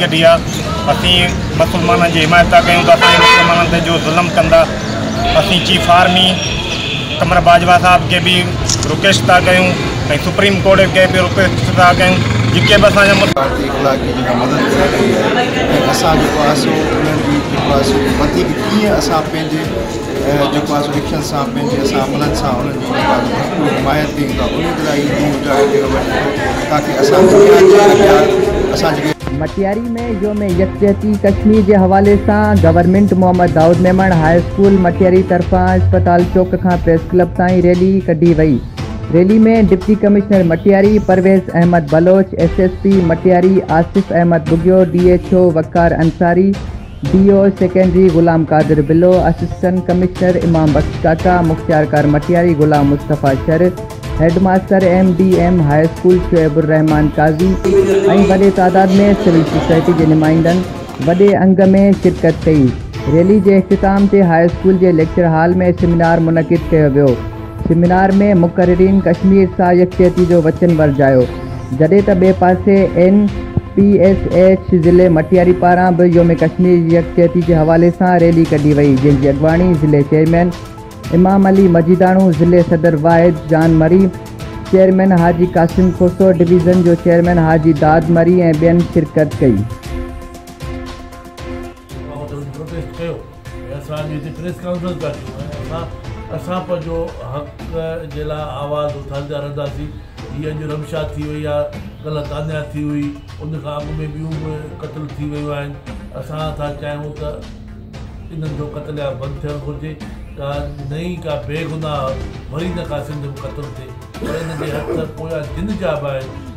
ڪڍي آ اسين مسلمانن جي حمايت ٿا ڪيون ته اسان جي مسلمانن تي جو ظلم ڪن ٿا اسين چيف آرمي قمر باجوا صاحب کي به رڪويسٽ ٿا ڪيون ۽ سپريم ڪورٽ کي به رڪويسٽ ٿا ڪيون جيڪي به اسان جا ڀارتي اخلاقي جيڪا مدد ڪري رهي آهي ۽ اسان جيڪو آهي سو انهن جي جيڪو آهي سو وڌيڪ ڪيئن اسان پنهنجي ۽ جيڪو آهي سو اکين سان پنهنجي اسان عملن سان انهن جي جيڪو آهي سو ڀرپور حمايت ڪئي ته اميد لاء اهي ڏينهن اجاڙي ڏيڻ وٽ ايندو تاڪه اسان دنيا جي اڳيان اسان جيڪي مٽياري ۾ يوم يڪجهتي ڪشمير جي حوالي سان government Muhammad Daud Memon high school Matiari طرفان اسپتال چوڪ کان پريس ڪلب تائين ريلي ڪڍي وئي rally ۾ deputy commissioner Matiari Parvez Ahmed Baloch S S P Matiari Asif Ahmed Bughio D H O Waqar Ansari D O secondary Ghulam Qadir Bullo, assistant commissioner Imam Bux Kaka, مختيارڪار Matiari Ghulam Mustafa Shar, headmaster M D M high school Shoaib ur Rahman Qazi ۽ وڏي تعداد ۾ سول سوسائٽي جي نمائندن وڏي انگ ۾ شرڪت ڪئي. ريلي جي اختتام تي هاء اسڪول جي ليڪچر هال ۾ سيمينار منعقد ڪيو ويو. سيمينار ۾ مقررين ڪشمير سان يڪجهتي جو وچن ورجايو، جڏهن ته ٻئي پاسي اين پي ايس ايڇ ضلعي مٽياري پاران به يوم ڪشمير جي يڪجهتي جي حوالي سان ريلي ڪڍي وئي، جنهن جي اڳواڻي ضلعي چيئرمين امام علي مجيداڻو، ضلعي صدر واحد جان مري، چيئرمين حاجي قاسم کوسو، ڊويزن جو چيئرمين حاجي داد مري ۽ ٻين شرڪت ڪئي. اسان جي هتي پريس ڪانفرنس پيا ڪيون ۽ اسان اسان پنهنجو حق جي لاء آواز اٿاريندا رهنداسين جي اڄ رمشا ٿي وئي آ ڪلهه تانيا ٿي هئي ان کان اڳ ۾ ٻيون به قتل ٿي ويون آهن اسان ٿا چاهيون ته انهن جو قتل عام بند ٿيڻ گهرجي ڪا نئين ڪا بيگناهه وري نه ڪا سنڌ ۾ قتل ٿئي پر ان جي هٿ پويان جن جا به آهن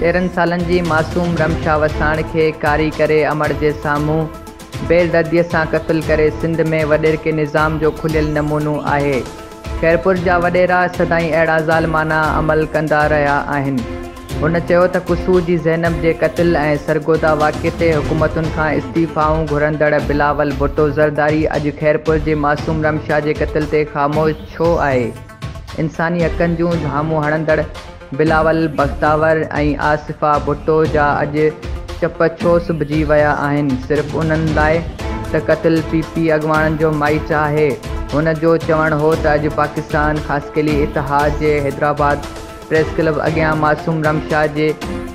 تيرهن سالن جي معصوم رمشا وساڻ کي ڪاري ڪري امڙ جي سامهون بي دردي سان قتل ڪري سنڌ ۾ وڏيرڪي نظام جو کليل نمونو آهي. خيرپور جا وڏيرا سدائين اهڙا ظالمانه عمل ڪندا رهيا آهن. هن چيو ته قصور جي زينب جي قتل ۽ سرگوڌا واقعي تي حڪومتن کان استعيفائون گهرندڙ بلاول ڀٽو زرداري اڄ خيرپور جي معصوم رمشا جي قتل تي خاموش ڇو آهي؟ انساني حقن جون ڌامون هڻندڙ بلاول بختاور ۽ آصفه ڀٽو جا اڄ چپ ڇو سبجي ويا آهن صرف انهن لاء ته قتل پي پي اڳواڻن جو مائيٽ آهي هن جو چوڻ هو ته اڄ پاڪستان خاصخيلي اتحاد جي حيدرآباد پريس ڪلب اڳيان معصوم رمشا جي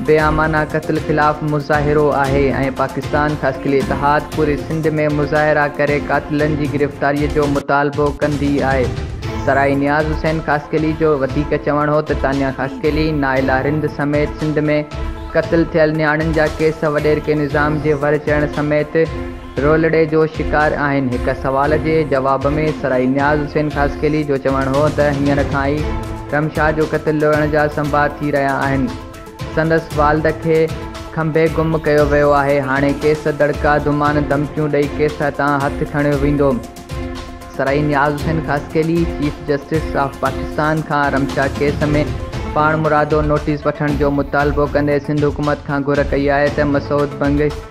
بيامعنيٰ قتل خلاف مظاهرو آهي ۽ پاڪستان خاصخيلي اتحاد پوري سنڌ ۾ مظاهرا ڪري قاتلن جي گرفتاري جو مطالبو ڪندي آهي. سرائي نياز حسين خاصخيلي جو وڌيڪ چوڻ هو ته تانيا خاصخيلي، نائلا رند سميت سنڌ ۾ قتل ٿيل نياڻين جا ڪيس وڏيرڪي نظام جي ور چڙهڻ سميت رولڙي جو شڪار آهن. هڪ سوال جي جواب ۾ سرائي نياز حسين خاصخيلي جو چوڻ هو ته هينئر کان ئي رمشا جو قتل لوڙڻ جا سنڀا ٿي رهيا آهن، سندس والد کي کنڀي گم ڪيو ويو آهي، هاڻي ڪيس دڙڪا، دمان، ڌمڪيون ڏئي ڪيس هٿان هٿ کڻيو ويندو. Sarai Niaz Hussain Khaskheli chief justice of Pakistan کان رمشا ڪيس ۾ پاڻمرادو نوٽيس وٺڻ جو مطالبو ڪندي سنڌ حڪومت کان گهر ڪئي آهي ته مسعود بنگش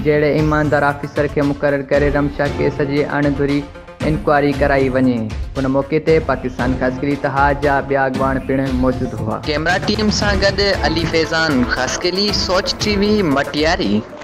جهڙي ايماندار آفيسر کي مقرر ڪري رمشا ڪيس جي اڻ گهري انڪوائري ڪرائي وڃي. ان موقعي تي پاڪستان خاصخيلي اتحاد جا ٻيا اڳواڻ پڻ موجود هئا. ڪيمرا ٽيم سان گڏ علي فيضان خاصخيلي، سوچ ٽي وي، مٽياري.